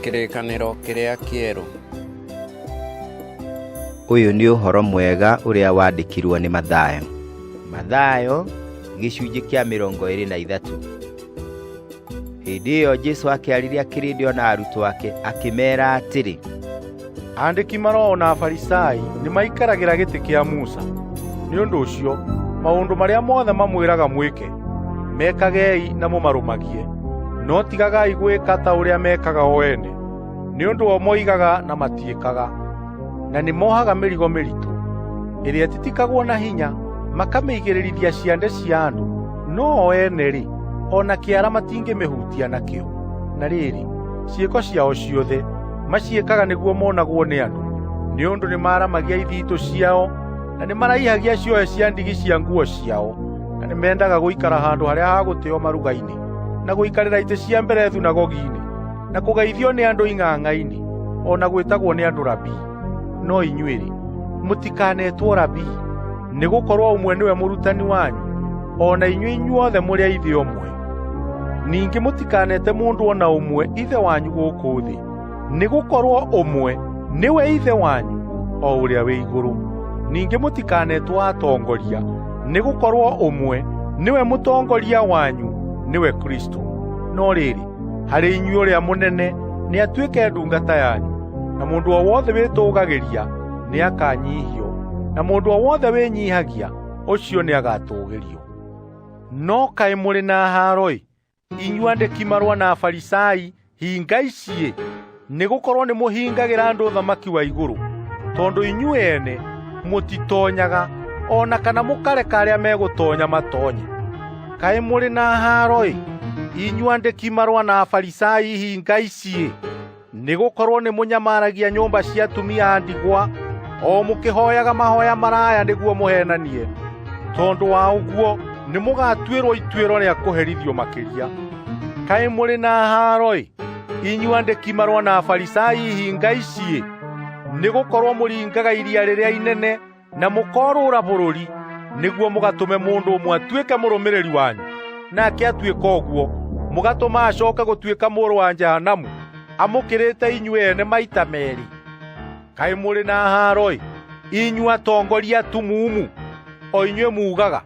Kĩrĩkanĩro kĩrĩa kĩerũ. Ũyũ nĩ ũhoro mwega ũrĩa wandĩkirwo nĩ Mathayo. Mathayo gĩcunjĩ kĩa mĩrongo ĩrĩ na ithatũ. Hĩndĩ ĩyo Jesu akĩarĩria kĩrĩndĩ o na arutwo ake akĩmeera atĩrĩ, Andĩki maroho na Afarisai nĩ maikaragĩra gĩtĩ kĩa Musa. Nĩ ũndũ ũcio, maũndũ marĩa mothe mamwĩraga mwĩke, mekagei na mũmarũmagie. No tigagai gwĩka ta ũrĩa mekaga o ene, nĩ ũndũ o moigaga na matiĩkaga. Na nĩ mohaga mĩrigo mĩritũ, ĩrĩa ĩtitikagwo na hinya, makamĩigĩrĩrithia ciande cia andũ, no o ene-rĩ, o na kĩara matingĩmĩhutia nakĩo. Na rĩrĩ, ciĩko ciao ciothe maciĩkaga nĩguo monagwo nĩ andũ nĩ ũndũ nĩmaramagia ithiitũ ciao na nĩmaraihagia ciohe cia ndigi cia nguo ciao na nĩmendaga gũikara handũ harĩa ha gũtĩo maruga-inĩ na gũikarĩra itĩ cia mbere thunagogi-inĩ na kũgeithio nĩ andũ ing'ang'a-inĩ o na gwĩtagwo nĩ andũ rabii no inyuĩ-rĩ mũtikanetwo rabii nĩ gũkorwo ũmwe nĩwe mũrutani wanyu o na inyuĩ inyuothe mũrĩ a ithe ũmwe Ningĩ mũtikanete mũndũ o na ũmwe ithe wanyu gũkũ thĩ, nĩ gũkorwo ũmwe nĩwe ithe wanyu o ũrĩa wĩ igũrũ. Ningĩ mũtikanetwo atongoria, nĩ gũkorwo ũmwe nĩwe mũtongoria wanyu nĩwe Kristo. No rĩrĩ, harĩ inyuĩ ũrĩa mũnene nĩ atuĩke ndungata yanyu, na mũndũ o wothe wĩtũũgagĩria nĩ akanyihio, na mũndũ o wothe wĩnyihagia ũcio nĩ agatũũgĩrio. No kaĩ mũrĩ na haaro-ĩ! Inyuĩ andĩki marũa na Afarisai, hinga iciĩ! Nĩ gũkorwo nĩ mũhingagĩra andũ ũthamaki wa igũrũ, tondũ inyuĩ ene mũtitonyaga, o na kana mũkareka arĩa megũtonya matonye. Kaĩ mũrĩ na haaro-ĩ! Inyuĩ andĩki marũa na Afarisai, hinga iciĩ! nĩ gũkorwo nĩ mũnyamaragia nyũmba cia atumia a ndigwa o mũkĩhoyaga mahoya maraya nĩguo mũhenanie tondũ wa ũguo nĩ mũgatuĩrwo ituĩro rĩa kũherithio makĩria kaĩ mũrĩ na haro-ĩ inyuĩ andĩki marũa na afarisai ihinga iciĩ nĩ gũkorwo mũringaga iria rĩrĩa inene na mũkorũra bũrũri nĩguo mũgatũme mũndũ ũmwe atuĩke mũrũmĩrĩri wanyu nake atuĩka ũguo mũgatũma acoke gũtuĩka mũrũ wa jahanamu amũkĩrĩte inyuĩ ene maita merĩ kaĩ mũrĩ na haaro-ĩ inyuĩ atongoria atumumu o inyuĩ muugaga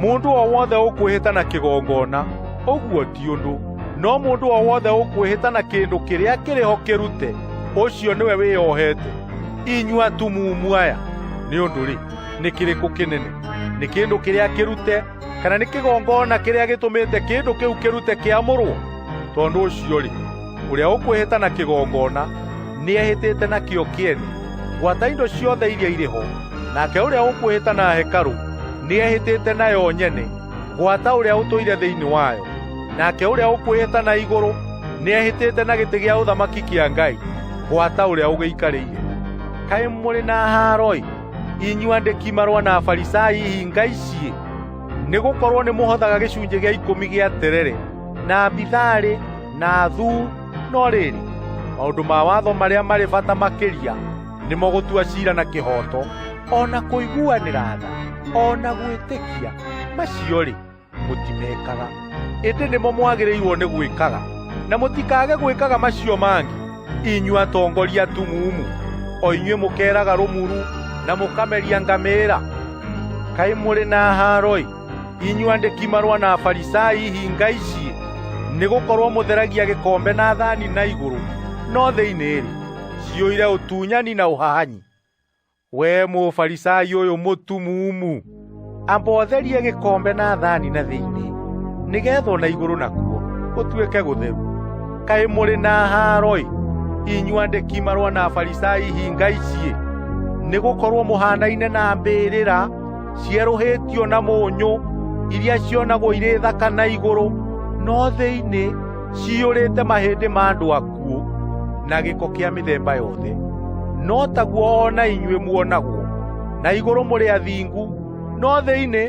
Mũndũ o wothe ũkwĩhĩta na kĩgongona, ũguo ti ũndũ. No mũndũ o wothe ũkwĩhĩta na kĩndũ kĩrĩa kĩrĩ ho kĩrute, ũcio nĩwe wĩyohete. Inyuĩ atumumu aya, nĩ ũndũ-rĩ, nĩ kĩrĩkũ kĩnene? Nĩ kĩndũ kĩrĩa kĩrute, kana nĩ kĩgongona kĩrĩa gĩtũmĩte kĩndũ kĩu kĩrute kĩamũrwo? Tondũ ũcio-rĩ, Ũrĩa ũkwĩhĩta na kĩgongona nĩehĩtĩte nakĩo kĩene gwata indo ciothe iria irĩ ho, nake ũrĩa ũkwĩhĩta na hekarũ nĩehĩtĩte nayo nyene gwata ũrĩa ũtũire thĩinĩ wayo, nake ũrĩa ũkwĩhĩta na igũrũ nĩehĩtĩte na gĩtĩ gĩa ũthamaki kĩa Ngai gwata ũrĩa ũgĩikarĩire. Kaĩ mũrĩ na haaro-ĩ, inyuĩ andĩki marũa na Afarisai ihinga ici! Nĩ gũkorwo nĩmũhothaga gĩcunjĩ gĩa ikũmi gĩa terere na bitharĩ na thu, no rĩrĩ, maũndũ ma watho marĩa marĩ bata makĩria nĩmo gũtua ciira na kĩhooto, o na kũiguanĩra tha, o na gwĩtĩkia, macio-rĩ, mũtimekaga. Ĩndĩ nĩmo mwagĩrĩirwo nĩ gwĩkaga, na mũtikage gwĩkaga macio mangĩ, inyuĩ atongoria tumumu, o inyuĩ mũkeeraga rũmuru, na mũkameria ngamĩĩra. Kaĩ mũrĩ na haaro-ĩ! Inyuĩ andĩki marũa na Afarisai hinga ici, nĩ gũkorwo mũtheragia gĩkombe na thani na igũrũ, no thĩinĩ-rĩ, ciyũire ũtunyani na ũhahanyi. Wee Mũfarisai ũyũ mũtumumu, amba ũtherie gĩkombe na thani na thĩinĩ, nĩgeetha na igũrũ nakuo gũtuĩke gũtheru. Kaĩ mũrĩ na haaro-ĩ, inyuĩ andĩki marũa na Afarisai hinga ici, nĩ gũkorwo mũhaanaine na mbĩrĩra cierũhĩtio na mũnyũ iria cionagwo irĩ thaka na igũrũ no thĩinĩ ciyũrĩte mahĩndĩ ma andũ akuũ na gĩko kĩa mĩthemba yothe no taguo o na inyuĩ muonagwo na igũrũ mũrĩ athingu no thĩinĩ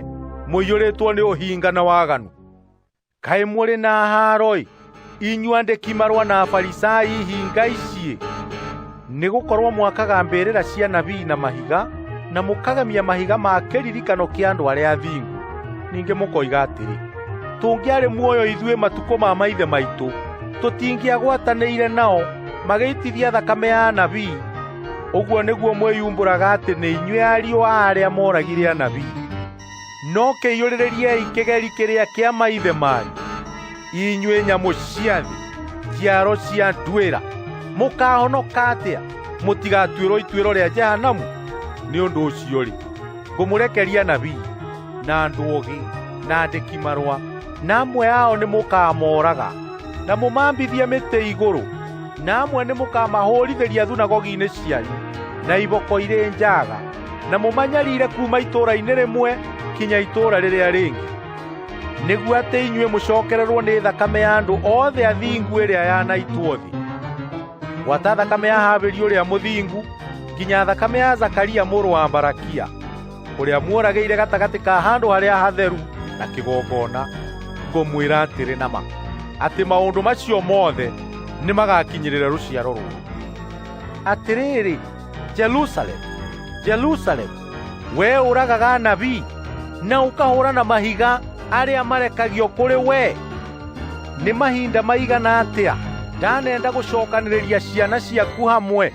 mũiyũrĩtwo nĩ ũhinga na waganu Kaĩ mũrĩ na haaro-ĩ, inyuĩ andĩki marũa na Afarisai hinga iciĩ! Nĩ gũkorwo mwakaga mbĩrĩra cia nabii na mahiga, na mũkagemia mahiga ma kĩririkano kĩa andũ arĩa athingu. Ningĩ mũkoiga atĩrĩ, tũngĩarĩ muoyo ithuĩ matukũ ma maithe maitũ, tũtingĩagwatanĩire nao magĩitithia thakame ya anabii. Ũguo nĩguo mwĩyumbũraga atĩ nĩ inyuĩ ariũ a arĩa moragire anabii. No kĩiyũrĩrĩriei kĩgeri kĩrĩa kĩa maithe manyu, inyuĩ nyamũ cia thĩ, njiaro cia nduĩra. Mũkaahonoka atĩa mũtigatuĩrwo ituĩro rĩa Jehanamu? Nĩ ũndũ ũcio-rĩ, ngũmũrekeria nabii na andũ ogĩ na andĩki marũa, na amwe ao nĩ mũkaamoraga na mũmambithie mĩtĩ igũrũ, na amwe nĩ mũkaamahũũrithĩria thunagogi-inĩ cianyu na iboko irĩ njaga. na mũmanyariire kuuma itũũra-inĩ rĩmwe kinya itũũra rĩrĩa rĩngĩ nĩguo atĩ inyuĩ mũcokererwo nĩ thakame ya andũ othe athingu ĩrĩa yanaitwo thĩ gwata thakame ya habeli ũrĩa mũthingu nginya thakame ya zakaria mũrũ wa barakia ũrĩa muoragĩire gatagatĩ ka handũ harĩa hatheru na kĩgongona ngũmwĩra atĩrĩ na ma atĩ maũndũ macio mothe nĩmagakinyĩrĩra rũciaro rũrũ atĩrĩrĩ “Jerusalemu, Jerusalemu, wee ũragaga anabii na ũkahũra na mahiga arĩa marekagio kũrĩ wee! Nĩ mahinda maigana atĩa ndanenda gũcookanĩrĩria ciana ciaku hamwe,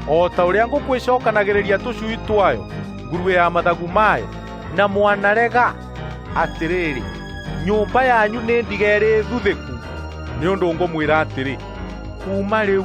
o ta ũrĩa ngũkũ ĩcookanagĩrĩria tũcui twayo ngurue ya mathagu mayo, na mwanarega! Atĩrĩrĩ, nyũmba yanyu nĩ ndige ĩrĩ thuthĩku, nĩ ũndũ ngũmwĩra atĩrĩ, ‘Kuuma rĩu!’